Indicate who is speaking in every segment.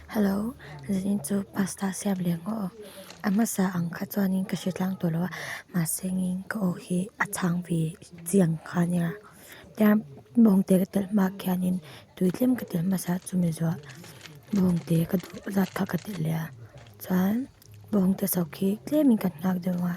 Speaker 1: Hello, zan in chu pasta siam leh ngawh aw, a hmasa ang kha chuan in ka hre tlang tawh lo a, mahse ngei in ka aw hi a chhang ve chiang kha a nia, tiang mahawng te ka telh hmak hian in tui tlem ka telh hmasa chu mi zawh mahawng te ka duh zat kha ka telh leh a, chuan mahawng te sak hi tlem in ka hngak deuh ang a.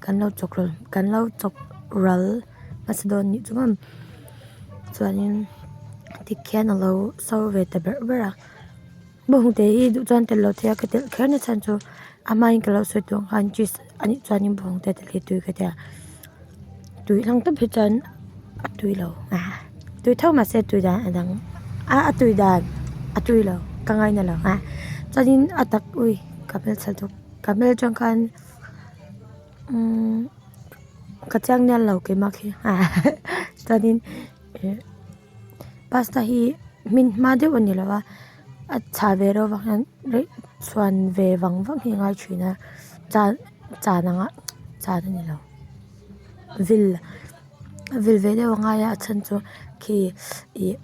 Speaker 1: Kan lo chawk ral kan lo chawk ral hmasa dawn anih chu ang chuanin dik hian a lo so ve ta ber ber a bawngte hi duh chuan telh lo thei a ka telh kher nasa chhan chu a hma in ka lo sawi tawh ang khan cheese anih chuanin bawngte te hlei tui ka tia tui hlang tawp hi chuan a tui lo tui thar mahse tui dan a dang a a tui dan a tui lo ka ngaina lo chuanin a tak ui ka hmel chhan chawk ka hmel chhan khan-- ka chiang nelh lo keimak hi chuanin ih pasta hi hmin hma deuh a ni lo a a chha ve ro vang hian rih chhuan ve vang vang hi a ngai thin a cha chan anga chan a ni lo vil a vil ve deuh a ngai a a chhan chu khi ih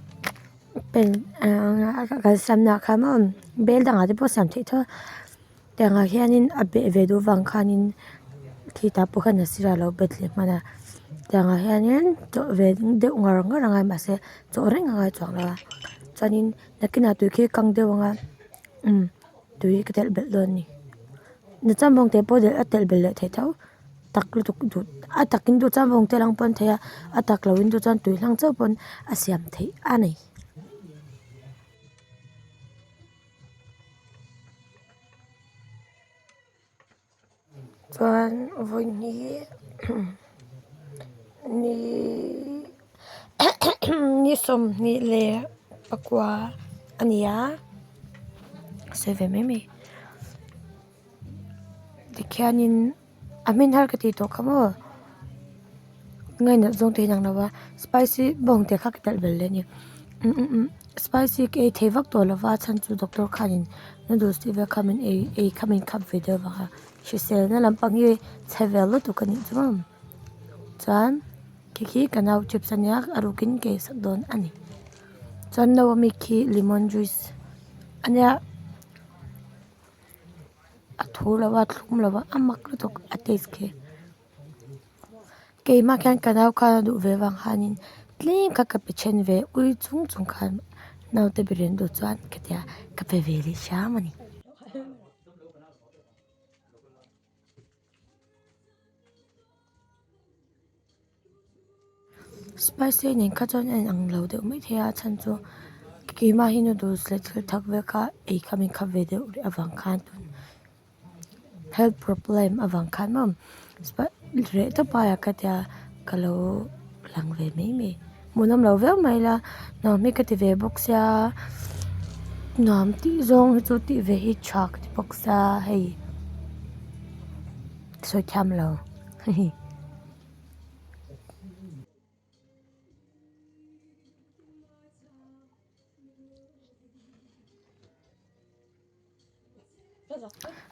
Speaker 1: pen kalsanah kha bel dangah te pawh a siam theih thaw a. Engah hianin a beh ve duh vang khanin khi ta pawh hian a sirah a lo bet leh hman a chutah hianin chawh ve deuh ngar ngar angai mahse chaw reng angai chuang lo a chuanin nakinah tui khi a kang deuh anga imm tui ka telh belh dawn a ni ni cham vawng te pawh a telh belh leh thei tho tak lutuk duh a takin duh cham vawng te a lang pawh a ni thei a a tak lo in duh chuan tui hlang chauh pawh a siam theih a ni. Chuan vawiin hi ni ni sawmhnih leh pakua a ni a sawi ve mai mai tikhianin. A hmin har ka tih tawh kha maw? Nge nalh zawng te hi a inang lo va, spicy bawng te kha ka nalh bal daih a ni. Umm umm umm spicy ka ei thei vak tawh lo va, a chhan chu doctor khanin noodles tih vel kha min ei ei kha min khap ve del vang a, hriselna lampang hi chhe ve lutuk a nih chu ang. Chuan khi khi ka nau chips a nia a rukin ka ei sak dawn a ni. Chuan no a mik hi lemon juice a nia. a thu lo a a thlum lo va a mak lutuk a taste khi kei mahk hian ka nau khan a duh ve vang khanin tlem kha ka pe chhen ve ui chung chung khan naute berian duh chuan ka tia ka pe ve leh hiam a ni. Spicy nen kha chuan a inang lo deuh mai thei a a chhan chu keimah hi noodles leh thil thak vel kha ei kha min khap ve deuh rih avang khan health problem avang khan mam reh ta paiah ka tia ka lo lang ve mai mai hmuh lam lo viau mai ila nuam hi ka ti ve bawk sia nuam tih zawng hi chu tih ve hi tha ka ti bawk sa hei sawi thiam lo.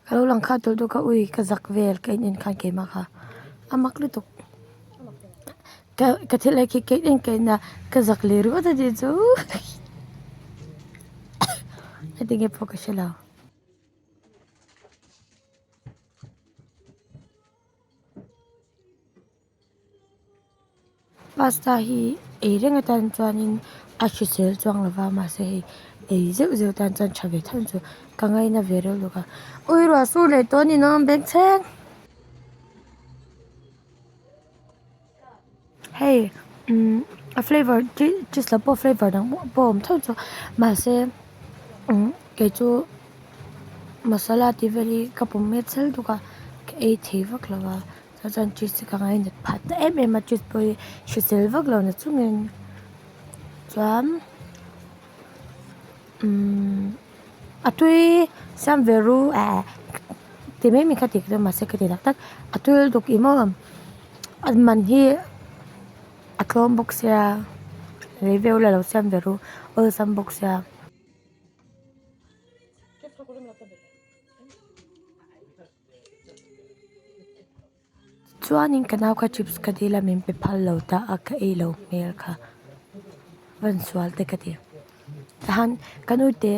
Speaker 1: Ka lo lang khan tawlh dawn ka ui ka zak vel ka in en khan keimah kha a mak lutuk ka ka thil ai khi ka in en ka in a ka zak leh ru ta tih chu heti nge pawh ka hre lo. Pasta hi ei reng a tan chuanin a hrisel chuang lo va mahse hei ei zeuh zeuh tan chuan tha ve tho chu ka ngai na ve reuh bawk a ui ruah sur leh tawh a ni nawm beng cheng. Hei umm a flavor chi chi sak pawh flavor dang mual pawh awm theuh chu mahse umm kei chu masala tih vel hi ka pu met sel duk a ka ei thei vak lo va chah chuan cheese hi ka ngai nat phat ta em em a cheese pawh hi hrisel vak lo nat chu ngei chuan-- a tui siam ve ru eh ti mai mai kha ti ka ring a mahse ka ti tak tak a tul duk i maw an man hi a tlawm bawk sia lei veu la lo siam ve ru awlsam bawk sia. Chuanin ka nau kha chips ka dil a min pe phal lo ta a ka ei lo hmel kha van sual te ka ti chuan ka nu te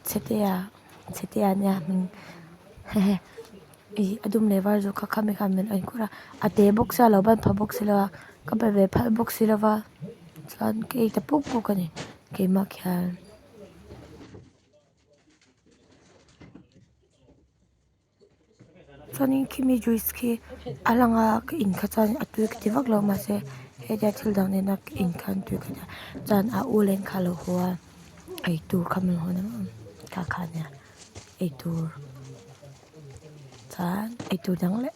Speaker 1: chhete ah chhete ah nia min he he i a dum leh var zawk kha khami kha min en kut a a te bawk se a lo ban pha bawk se lo a ka be ve phal bawk si lo va chuan ka ei ta puk puk a ni keimah khian. Chuanin khimi juice khi a lang a ka in kha chuan a tui ka ti vak lo mah se hetia thil dang nena ka in kha an tui ka ti a chuan a u len kha alo haw a eitur kha min haw em em ta kha nia eitur chuan eitur dang leh.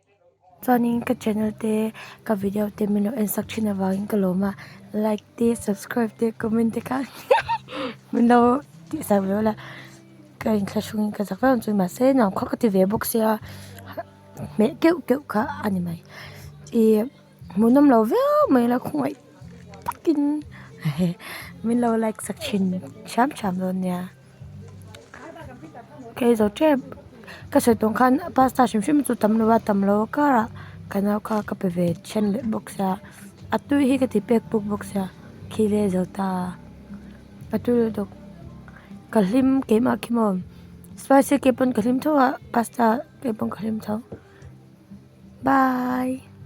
Speaker 1: Chuanin ka channel te ka video te min lo ensak thin avangin ka lawm a like te subscribe te comment te kha min lo tihsak ve ula ka in thlahrung in ka zah vel ang chuan mahse nau kha ka ti ve bawk sia hmel keuh keuh kha a ni mai i-- Hmuh nawm lo viau mai ila khawngaih takin min lo like sak thin thiam thiam dawn nia kei zo tep ka sawihtawng khan pasta hrim hrim chu tam lova tam lo karah ka nau kha ka pe ve chhan leh bawk sia a tui hi ka ti pek puk bawk sia khi leh zo ta a tui leh dawk ka hlim keimah khi maw spicy ke pawh ka hlim tho a pasta ke pawh ka hlim tho bye.